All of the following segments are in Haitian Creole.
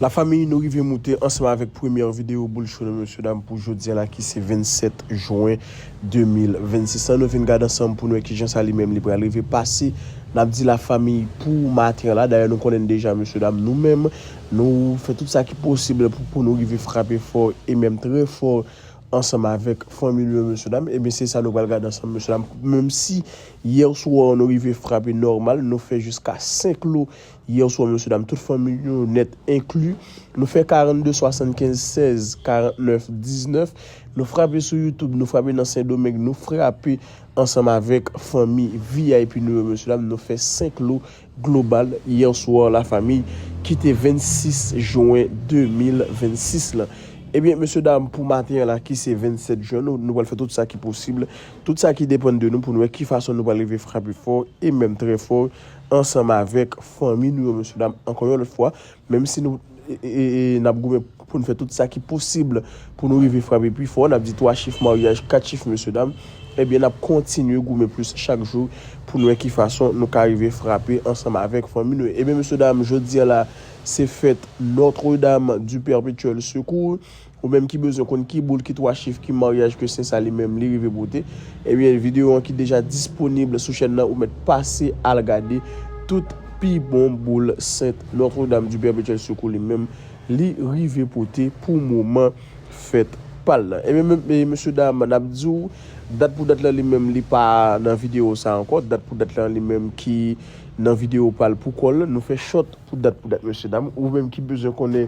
La famille nou rive moute ansanm avèk premyè video boul cho nou mesye dam pou jodi an la ki se 27 juin 2026 lan nou vin gad ansanm pou nou wè kijan sa li menm li pral rive pase nap di la famille pou maten an la dayè nou konnen deja mesye dam nou menm nou fè tout sa ki posib pou pou nou rive frape fò e menm trè fò ansanm avèk fanmi nou yo mesye dam ebyen se sa nou pral gad ansanm mesye dam menm si yè swa nou rive frape nòmal nou fè jiska 5 lou Yè swa mesye dam tout fanmiy nou nèt enkli nou fè 42 75 16 49 19 nou frape sou youtube nou frape nan sendomeng nou frape ansanm avèk fanmi vip nou yo mesye dam nou fè 5 lo global hier soir la famille ki te 26 juin 2026 lan ebyen mesye dam pou maten an la ki se 27 juin nou nou pral fè tout sa ki posib tout sa ki depann de nou pou nou wè ki fason nou pral rive frape fò e menm trè fò. ansanm avèk fanmi nou yo mesye dam ankò yon lòt fwa menm si nou nap goumen poun fè tout sa ki posib pou nou rive frape pi fò nap di 3 chif maryaj 4 chif mesye dam ebyen nap kontinye goumen plis chak jou poun wè ki fason nou ka rive frape ansanm avèk fanmi nou yo ebyen mesye dam jodi an la se fèt Notre Dame du Perpetuel Secours Ou menm ki bezwen konn ki boul ki 3 chif ki maryaj ke sè sa li menm li rive pote ebyen video an ki deja disponible sou chèn nan ou mèt pase al gade tout pi bon boul sent notre dame du perpetuel secours li menm li rive pote pou moman fèt pal nan ebyen mesye dam nap diw dat pou dat lan li menm li pa nan video sa ankò dat pou dat lan li menm ki nan video pal pou kòl nou fè chòt pou dat pou dat mesye dam ou menm ki bezwen konnen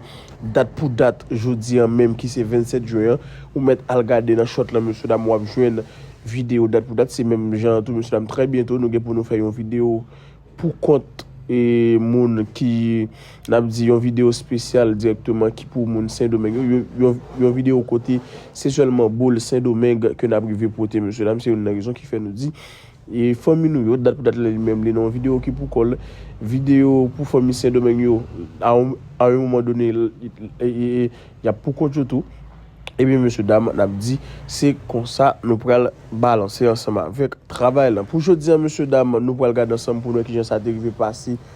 Dat pou dat, jodi an menm ki se 27 jwen an, ou mèt al gade nan short lan mesye dam wap jwenn video dat pou dat, se menm jan an tou mesye dam trè byento nou gen pou nou fè yon video pou kont moun ki nap di yon video spesyal dirèkteman ki pou moun sendomeng yo, yon video kote se sèlman boule sendomeng ke nap rive pote mesye dam, se youn nan rezon ki fè nou di E fanmi nou yo dat pou dat li menm li nan yon video ki pou kòl video pou fanmi sendomeng yo a yon moman done yap pou kont yo tou ebyen mesye dam nap di se konsa nou pral balanse ansanm avèk travay lan pou jodi an mesye dam nou pral gade ansanm pou nou wè kijan sa te rive pase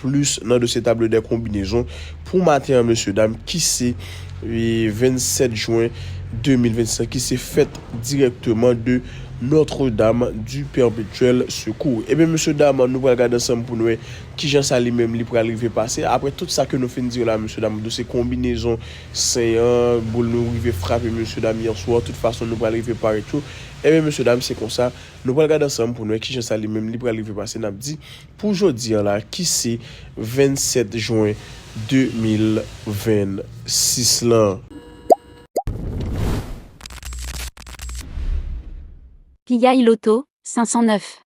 Plis nan dosye tablo dè konbinezon pou maten an mesye dam ki se 27 jwen 2025 ki se fèt dirèkteman de Notre Dame du Perpetuel Secours. Ebyen mesye dam nou pral gade ansanm pou n wè kijan sa li menm li pral rive pase apre tout sa ke nou fin di yo la mesye dam dosye konbinezon sen an boul nou rive frape mesye dam yèswa tout fason nou pral rive parèt yo ebyen mesye dam se konsa nou pral gade ansanm pou n wè kijan sa li menm li pral rive pase n ap di Pou jodi an la ki se 27 jwen 2026 lan. Piyay loto 509.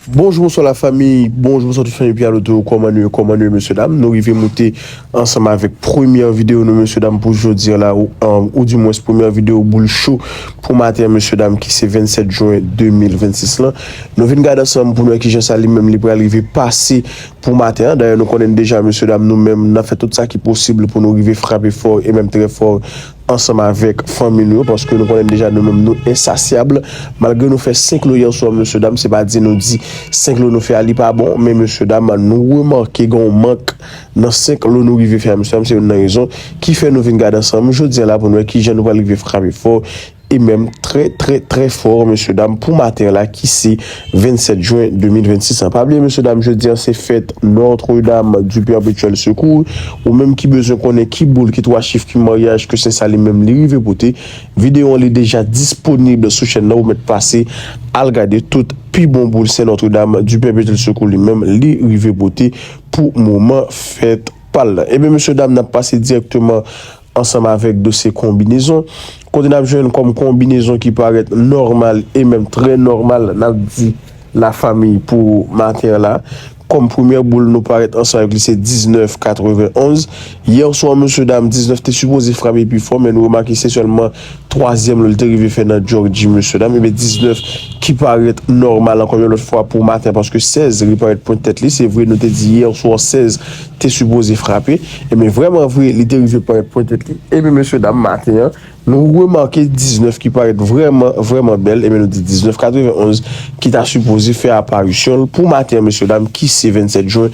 Bonjou bonswa la famiy bonjou bonswa tout fanmi piyaloto kòman nou ye kòman nou ye mesye dam nou rive moute Ansanm avèk premyè video nou mesye dam pou jodi an la ou di mwens premyè video boul cho pou maten an mesye dam ki se 27 jwen 2026 lan nou vin gad ansanm pou nou wè kijan sa li menm li pral rive pase pou maten an dayè nou konnen deja mesye dam nou menm nap fè tout sa ki posib pou nou rive frape fò e menm trè fò ansanm avèk fanmi nou yo paske nou konnen deja nou menm nou ensasyab malgre nou fè 5 lo yè swa mesye dam se pa di nou di 5 lo nou fè a li pa bon men mesye dam nou remake gen yon mank Nan 5 lo nou rive fè a mesye dam se youn nan rezon ki fè nou vin gade ansanm jodi an la pou nou wè kijan nou pral rive frape fò e menm trè trè trè fò mesye dam pou maten an la ki se 27 jwen 2026 lan. Pa bliye mesye dam jodi an se fèt Notre Dame du Perpetuel Secours ou menm ki bezwen konnen ki boul ki 3 chif ki maryaj ke Sen Sa li menm li rive pote videyo an li deja disponib sou chèn nan ou mèt pase al gade tout pi bon boul Sen Notre Dame du Perpetuel Secours li menm li rive pote pou moman fèt pa l lan. Ebyen mesye dam n ap pase dirèkteman ansanm avèk dosye konbinezon, kote n ap jwenn kòm konbinezon ki parèt nòmal e menm trè nòmal n ap di la fanmi pou maten an la. Kòm premyè boul nou parèt ansanm avèk li se 19, 91. Yèswa mesye dam 19 te sipoze frape pi fò men nou remake se sèlman Twazyèm lò li te rive fè nan Jòji mesye dam ebyen 19 ki parèt nòmal ankò yon lòt fwa pou maten paske 16 li parèt pwent tèt li se vre nou te di yè swa 16 te sipoze frape ebyen vrèman vre li te rive parèt pwent tèt li ebyen mesye dam maten an nou remake 19 ki parèt vrèman vrèman bèl ebyen nou di 19 91 ki ta sipoze fè aparisyon l pou maten an mesye dam ki se 27 jen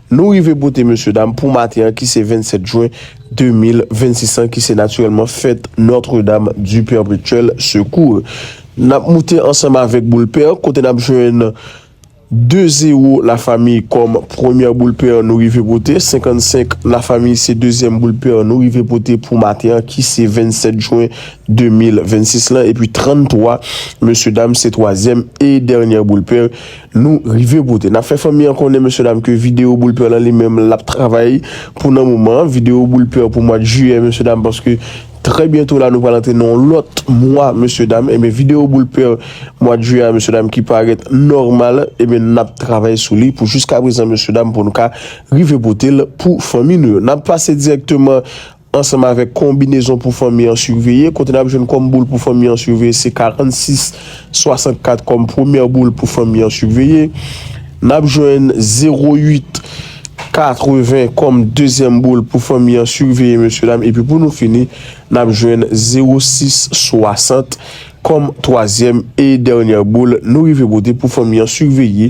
Nou rive bote mesye dam pou maten an ki se 27 jwen 2026 an ki se natirèlman fèt Notre Dame du Perpetuel Secours. N ap moute ansanm avèk boul pè kote n ap jwenn 2 zewo la fami kòm premyè boul pè nou rive pote, 55 la fami se dezyèm boul pè nou rive pote pou maten an ki se 27 jwen 2026 lan epi 33 mesye dam se twazyèm e dènyè boul pè Nou rive pote. Nap fè fanmi an konnen mesye dam ke video boule pè lan li menm lap travay pou nan moman an video boule pè pou mwad jiyè mesye dam paske trè byento la nou pral antre nan yon lòt mwa mesye dam ebyen video boule pè mwad jiyè a mesye dam ki parèt nòmal ebyen nap travay sou li pou jiska prezan mesye dam pou nou ka rive potel pou fanmi nou yo nap pase dirèkteman ansanm avèk konbinezon pou fanmi an siveye, kote n ap jwenn kòm boul pou fanmi an siveye se 46, 64 kòm premyè boul pou fanmi an siveye. N ap jwenn 08, 80 kòm dezyèm boul pou fanmi an siveye mesye dam epi pou nou fini n ap jwenn 06, 60 kòm twazyèm e dènyè boul nou rive pote pou fanmi an siveye.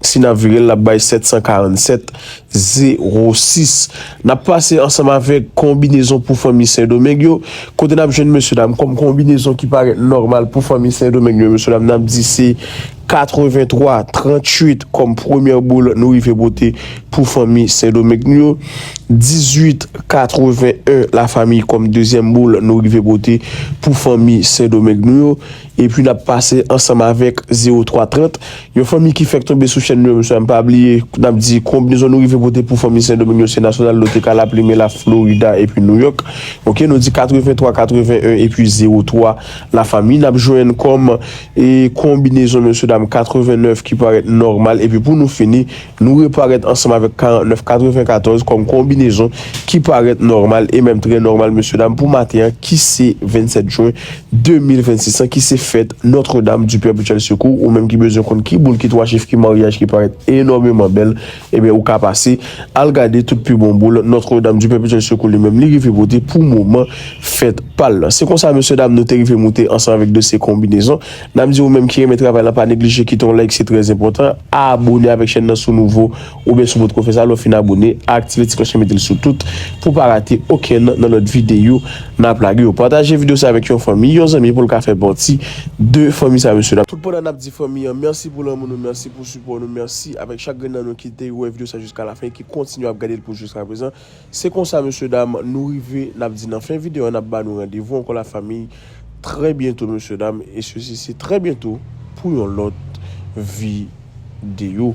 Si n ap vire l, l ap bay 747, zewo sis. N ap pase ansanm avèk konbinezon pou fanmi Sendomeng yo, kote n ap jwenn mesyedam kòm konbinezon ki parèt nòmal pou fanmi Sendomeng yo, mesyedam n ap di se 83, 38 kòm premyè boul nou rive pote pou fanmi Sendomeng yo, 18, 81 lafamiy kòm dezyèm boul nou rive pote pou fanmi Sendomeng yo. Epi nap pase ansanm avèk 03 30 yon fanmi ki fèk tonbe sou chèn nou yo bnswa mpa bliye nap di konbnezon nou rive pote pou fanmi sendomeng yo se nasyonal nou te ka la plime la florida epi nouyòk ok nou di 83 81 epi 03 la fanmi nap jwenn kòm konbinezon mesye dam 89 ki parèt nòmal epi pou nou fini Nou reparèt ansanm avèk 49 94 kòm konbinezon ki parèt nòmal e menm trè nòmal mesye dam pou maten an ki se 27 jwen 2026 lan ki se fèt Notre Dame du Perpetuel Secours ou menm ki bezwen konn ki boul ki 3 chif ki maryaj ki parèt enòmeman bèl ebyen ou ka pase al gade tout pi bon boul Notre Dame du Perpetuel Secours li menm li rive pote pou moman fèt pal lan se konsa mesye dam nou te rive moute ansanm avèk dosye konbinezon Nap di ou menm ki renmen travay lan pa neglije kite yon like se trè enpòtan, abone avèk chèn nan si w nouvo oubyen si w potko fè sa lè w fin abone aktive ti klòch lan mete l sou tout pou w pa rate okenn nan lòt videyo nap lage yo pataje videyo sa avèk yon fanmi yon zanmi pou l ka fè pati de fanmi sa mesye dam. Tout pandan nap di fanmi an mèsi pou lanmou nou mèsi pou sipò nou mèsi avèk chak grenn nan nou ki te wè videyo sa jiska lafen e ki kontinye ap gade l pou jiska prezan. Se konsa mesye dam nou rive nap di nan fen video an nap ba nou randevou ankò la famiy trè byento mesye dam e sesi se trè byento pou yon lòt video.